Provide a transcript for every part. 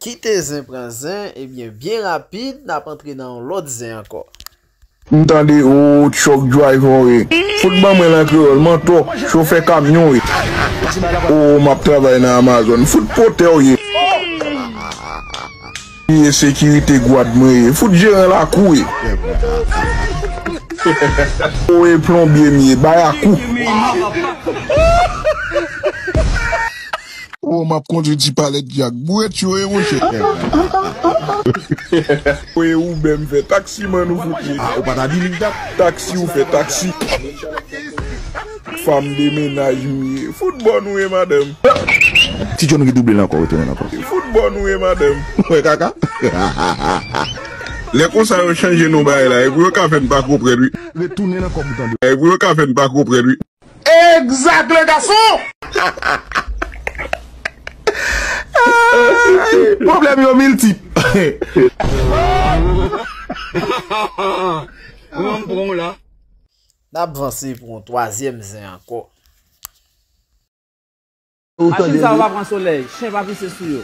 Kite zen pran zen ebyen byen rapid nap antre nan yon lòt zen ankò. M tande ooh truck driver we fout ban mwen l an kreyol mantò chofè kamyon we ooh map travay nan Amazon fout potè w ye. Ki ensekirite gwad mwen ye. Fout jeran lakou e. Ou e plonbye m ye. Bayakou. Ou m ap kondwi ti palèt jak. Bouret yo e monche. Ou e Uber m fè. Taxi man ou fout ye. Ou pa ta di li dat. Taxi ou fè. Taxi. Fanm de mennaj m ye. Fout bon nou ye madanm. Ti John redouble l ankò retounen l ankò. Fout bon nou ye madanm. Ou wè kaka. Lè konsa yo chanje non bagay la e pou yo ka fè n pa konprann wi. Retounen l ankò pou tande. E pou yo ka fè n pa konprann wi. Exact le garçon! Problème yo multiple. Nap vanse pou yon twazyèm zen ankò. Machin sa yo pa pran solèy, chen pa pise sou yo.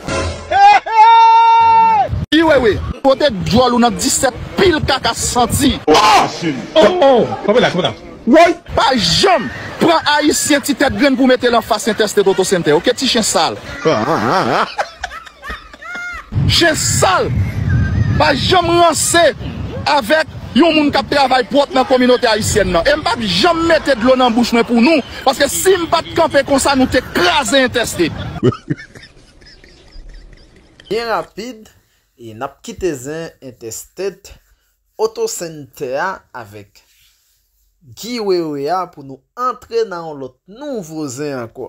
Ii wewe pote dyòl ou nan 17 pil kaka santi. Woy pa janm pran ayisyen ti tèt grenn pou metel anfas entèste totosente ok ti chen sal. Chen sal pa janm ranse avèk yon moun kap travay pwòp nan kominote ayisyèn nan em pap janm mete dlo nan bouch mwen pou nou paske sim pat kanpe konsa nou te kraze entèste. Byen rapid e nap kite zen entèsted. Oto Center a avèk Guy Wewe a pou nou antre nan yon lòt nouvo zen ankò.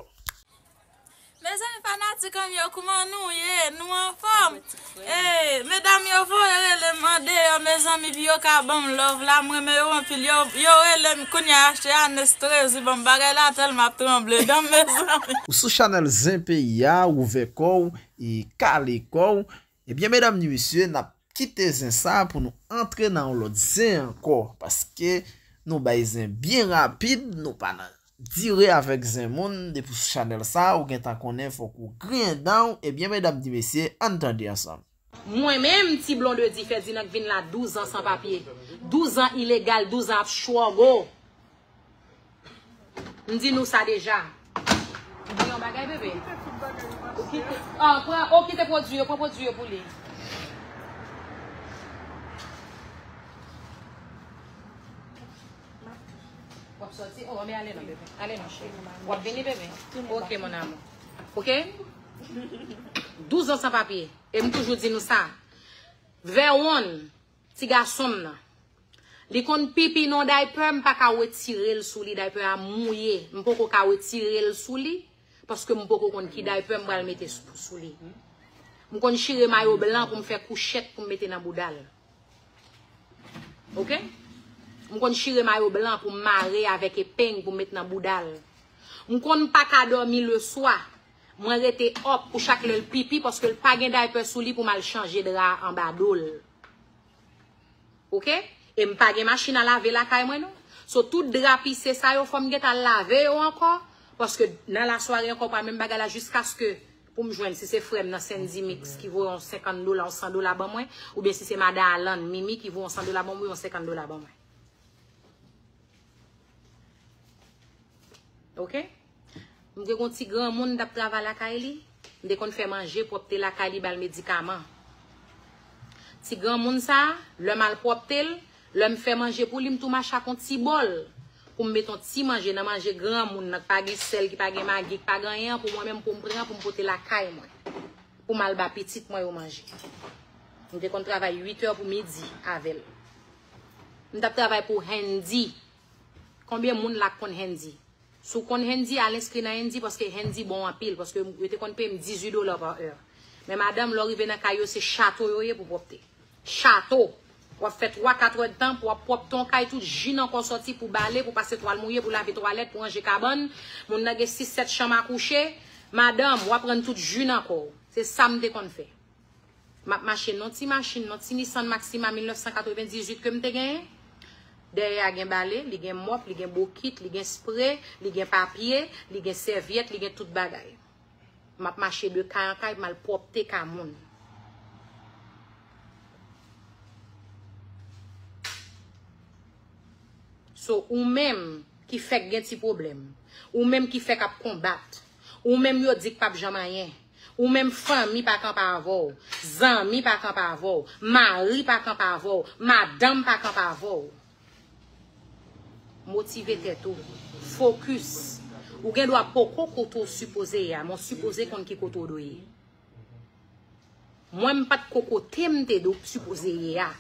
Mezanmi fanatikanm yo kouman nou ye nou anfòm ee medam yo voye relem andeyo mezanmi pu yo ka banm love la m renmen yo anpil yo yo relem kounya achte anes trezi banm bagay la tèl map tranble danm mezanmi. Ou sou chanel zen peyi a ouvè kòw e kale kòw Ebyen medam ni mesye nap kite zen sa pou nou antre nan yon lòt zen ankò paske nou bay zen byen rapid nou pa nan dire avèk zen moun depi sou chanèl sa ou gentan konnen fòk ou griyen danw ebyen medam ni mesye ann tande ansanm. Mwen menm ti blondedy ferdinand k vin la 12 ans san papye 12 ans ilegal 12 ans ap chwogo. M di nou sa deja. Ou di yon bagay bebe? Ou kite tout bagay yo mache a. An pran, ou kite pwodui yo, pran pwodui yo pou li. W ap soti? O, anben ale non bebe. Ale non cheri. W ap vini bebe? Ok mon amou. Ok? 12 ans san papye. E m toujou di nou sa. Vèwonn. Ti gason m nan. Li konn pipi non daypè m paka wetire l sou li daypè a mouye m poko ka wetire l sou li paske m poko konn ki daypè m pral mete sou li m konn chire mayo blan pou m fè kouchèt pou m mete nan bouda l ok m konn chire mayo blan pou m mare avèk epeng pou m mete nan bouda l m konn paka dòmi leswa. Mwen rete up pou chak lèl pipi paske l pa gen diaper sou li pou mal chanje dra anba dol. Ok? E m pa gen machin a lave lakay mwen non. So tout dra pise sa yo fòm geta lave yo ankò paske nan la sware ankò pa menm bagay la jiskaske pou m jwenn si se frèm nan Sendy Mix ki voye yon 50 dola yon 100 dola ban mwen ou byen si se madan Alan Mimi ki voye yon 100 dola ban mwen yon 50 dola ban mwen. Ok? M te gen yon ti granmoun m t ap travay lakay li. M te konn fè manje, pwòpte lakay li, ba l medikaman. Ti granmoun sa a, lè m al pwòpte l, lè m fè manje pou li, m tou mache ak yon ti bòl pou m met yon ti manje nan manje granmoun nan ki pa gen sèl, ki pa gen magi, ki pa gen anyen an pou mwen menm pou m pran pou m pote lakay mwen pou m al ba pitit mwen yo manje. M te konn travay uitè pou midi avè l. M t ap travay pou Hendy. Konbyen moun la k konn Handy? Si w konn Handy, al enskri nan Handy paske Handy bon anpil paske yo te konn peye m 18 dola pa è. Men madanm, lè w rive nan kay yo se chato yo ye pou pwòpte. Chato! W ap fè twa katrèdtan pou w ap pwòpte yon kay tout ji nan kò w sòti pou bale, pou pase twal mouye, pou lave twalèt, pou ranje kabann. Moun nan gen sis sèt chanm a kouche. Madanm, w ap rann tout ji nan kò w. Se sa m te konn fè. M ap mache nan ti machin, nan ti Nissan Maxima 1998 ke m te genyen. Dèyè a gen bale, li gen mòp, li gen bokit, li gen spre, li gen papye, li gen sèvyèt, li gen tout bagay. M ap mache de kay an kay pou m al pwòpte kay moun. So, ou menm ki fèk gen ti pwoblèm, ou menm ki fèk ap konbat, ou menm yo di k pap janm anyen, Ou menm fanmi pa kanpe avè w, zanmi pa kanpe avè w, mari pa kanpe avè w, madanm pa kanpe avè w. Motive tèt ou. Fokis. Ou gen dwa poko kote w sipoze ye a, men w sipoze konn ki kote w dwe ye. Mwen m pa t ko kote m te sipoze ye a,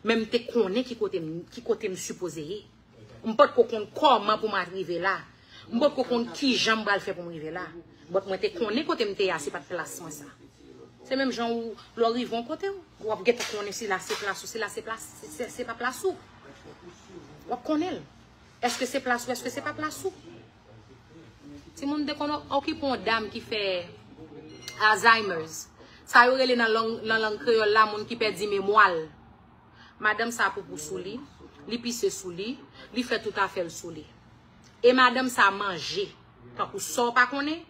men m te konnen ki kote m sipoze ye. M pa t ko konn kòman pou m atrive la. M potko konn kijan m pral fè pou m rive la. But mwen te konnen kote m te ye a se pat plas mwen sa. Se menm jan ou lè w rive yon kote w, w ap gentan konnen si la se plas ou, si la se plas, si se pa plas ou. W ap konnen l. Eske se plas ou, eske se pa plas ou. Timoun m te konn okipe yon dam ki fè Alzheimer's. Sa yo rele nan lang kreyòl la moun ki pèdi memwa l. Madanm sa poupou sou li, li pise sou li, li fè tout afè l sou li. E madanm sa manje tankou sa w pa konnen,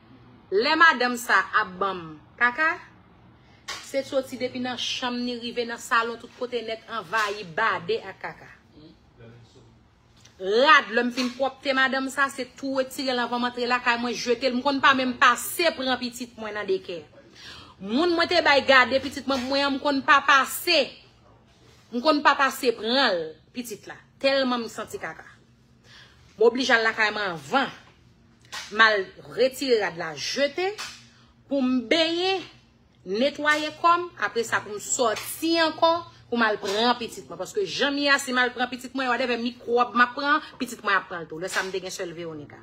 lè madanm sa ap banm kaka, se soti depi nan chanm ni rive nan salon tout kote nèt anvayi bade ak kaka. Rad lè m fin pwòpte madanm sa se tou retire l anvan m antre lakay mwen jete l, m konn pa menm pase pran pitit mwen nan dekè. Moun mwen te bay gade pitit mwen pou mwen an m konn pa pase, m konn pa pase pran l pitit la, tèlman m santi kaka. M oblije al lakay m anvan. M al retire rad la jete pou m benyen, netwaye kò m, apre sa pou m soti ankò pou m al pran pitit mwen. Paske jan m ye a, si m al pran pitit mwen, wadèvè mikwòb m ap pran an, pitit mwen ap pran l tou. Lè sa a m te gen sèl Veronica.